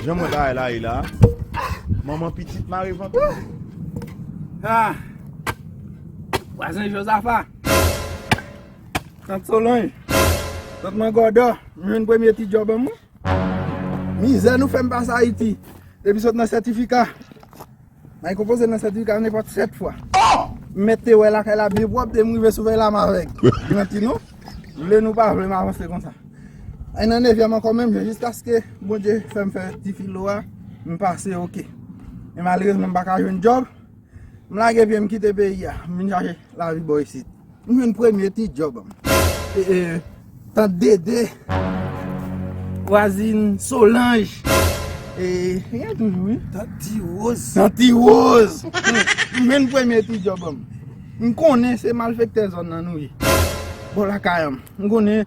Janm wè bagay la ye la Manman pitit mare vant ou. Ahh Vwazen Jozafa Tant Solonj Tant Mangodò M jwenn premye ti djòb an mwen Mizè nou fèm pase Ayiti Depi sot nan sètifika May konpoze nan sètifika nenpòt 7 fwa. M mèt te wè lakay la byen pwòp e m rive souvèy la m avèg. Gran ti nou, vle nou pa vle m avanse konsa. Ay nan nevyèm ankò menm jan jiskaske Bondye fè m fè ti filo a, m pase ok. Men malerezman m pa ka jwenn djòb, m lage pye m kite peyi a, m vin chache lavi bò isit. M jwenn premye ti djòb m. Tant Dede, vwazin Solanj. E gen toujou wi. Tant Ti Woz. Tant Ti Woz. M jwenn premye ti djòb m. M konnen se malfektè zòn nan nou ye. Bò lakay m. M konnen.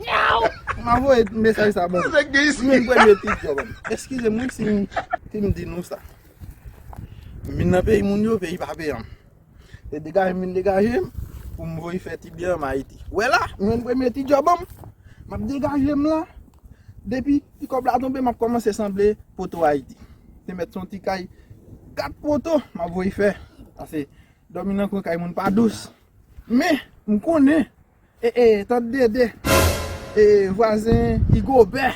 Ou pa voye mesaj sa banm. Ou menm pran de pik yo banm. Eskize m wi si m si m di nou sa. M vin nan peyi moun yo, peyi pape an. Se degaje m vin degaje m pou m voye fè ti byen an Ayiti. Ou wè la, m jwenn premye ti djòb an m. M ap degaje m la. Depi ti kòb la tonbe m ap kòmanse sanble poto Ayiti. Se mèt son ti kay 4 poto m ap voye fè. Pase dòmi nan kwen kay moun pa dous. Men, m konnen. E e tant dede e vwazen igobè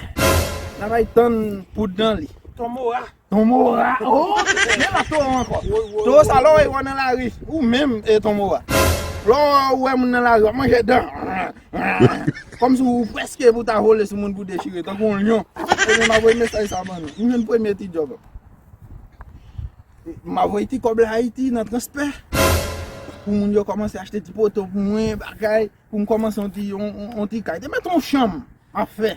nan bay tann poud nan li. Ton mora. Ton mora oh men la towo anko. Towo sa lè w wè yo nan lari ou menm e ton mora. Lè w wè moun nan lari wap manje dan. Komsi w preske pou ta vole sou moun pou dechire tankou yon lyon. Ebyen map voye mesaj sa ban nou. M jwenn premye ti djob. Map voye ti kob la Haiti nan transpe pou moun yo komanse achte ti poto pou mwen bagay pou m komanse yon ti yon ti kay te met yon chanm map fe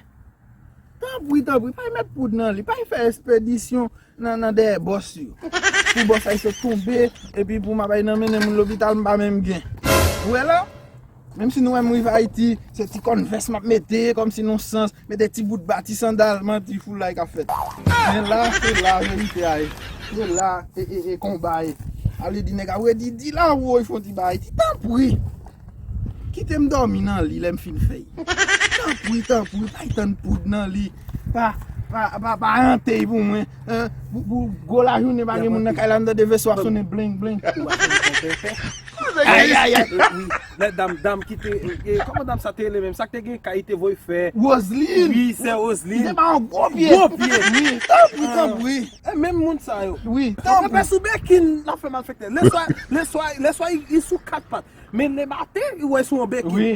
tanpri tanpri pay met poud nan li pay fe espedisyon nan nan dèyè boss yo pou boss ayisyen tonbe epi pou map ay nan mennen moun lopital m pa menm gen ou we la. Menm si nou wèm rive ayiti se ti kòn vès map mete kòm si non sans mete ti bout ba ti sandal manti foulay kap fèt men la se la verite a ye se la ee konba ye a vle di nèg ap redi di la woy fon ti bagay ti tanpri kitem dòmi nan li lèm fin fèy tanpri tanpri bay tann poud nan li. Pa hante pou mwen. Pou gwo lajounen pa gen moun nan kay la m tande veso ap sonnen bling bling. Lè dam dam ki te Koman dam sa te rele menm sa ki te gen kay li te voye fè Roseline Wi sè Roseline Li te bay yon gwo pye Gwo pye Wi Tanpri tanpri E menm moun sa yo Wi Tanpri Yo pè sou bèkin l ap fè malfèktè Lè swa Lè swa Lè swa li sou kat pat Men le maten li wè sou yon beki. Wi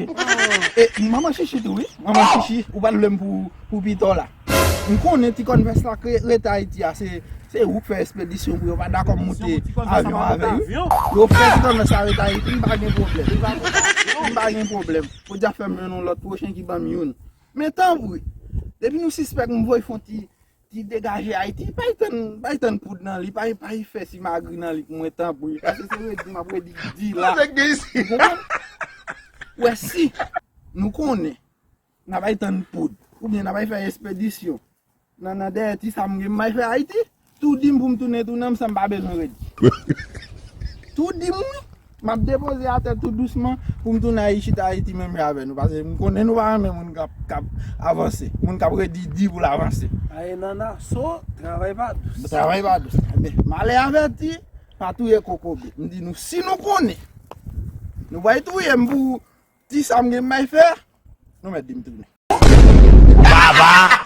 e manman chichi tou wi. Manman chichi ou pa lwem pou pitò la. M konnen ti kònvès la k rete ayiti a se ou k fè espedisyon pou yo pa dakò moute avyon avè yo yo fè ti kònvès la rete ayiti m pa gen pwoblèm m pa gen pwoblèm podyab fè m jwenn yon lòt pwochen ki banm youn men tanpri depi nou sispèk m voy fon ti Ti degaje ayiti bay tann bay tann poud nan li bay bay fè simagri nan li pou mwen tanpri pase se redi map redi di la ou konprann ou wè si nou konnen na bay tann poud ou byen na bay fè espedisyon nan nan dèyè ti sa m gen m bay fè ayiti tou dim pou m tounen tou nan m san m pa bezwen redi tou dim wi. Map depoze atè tou dousman poum tounen ayi chita ayiti menm jan avè nou pase m konnen nou pa renmen moun kap avanse moun kap redi di poul avanse. Aye nana so travay pa dous. Travay pa dous men malè avèti pa touye kokobe m di nou si nou konnen nou pwal touyem pou ti sam gen m bay fè nou mèt dim tounen. Baba.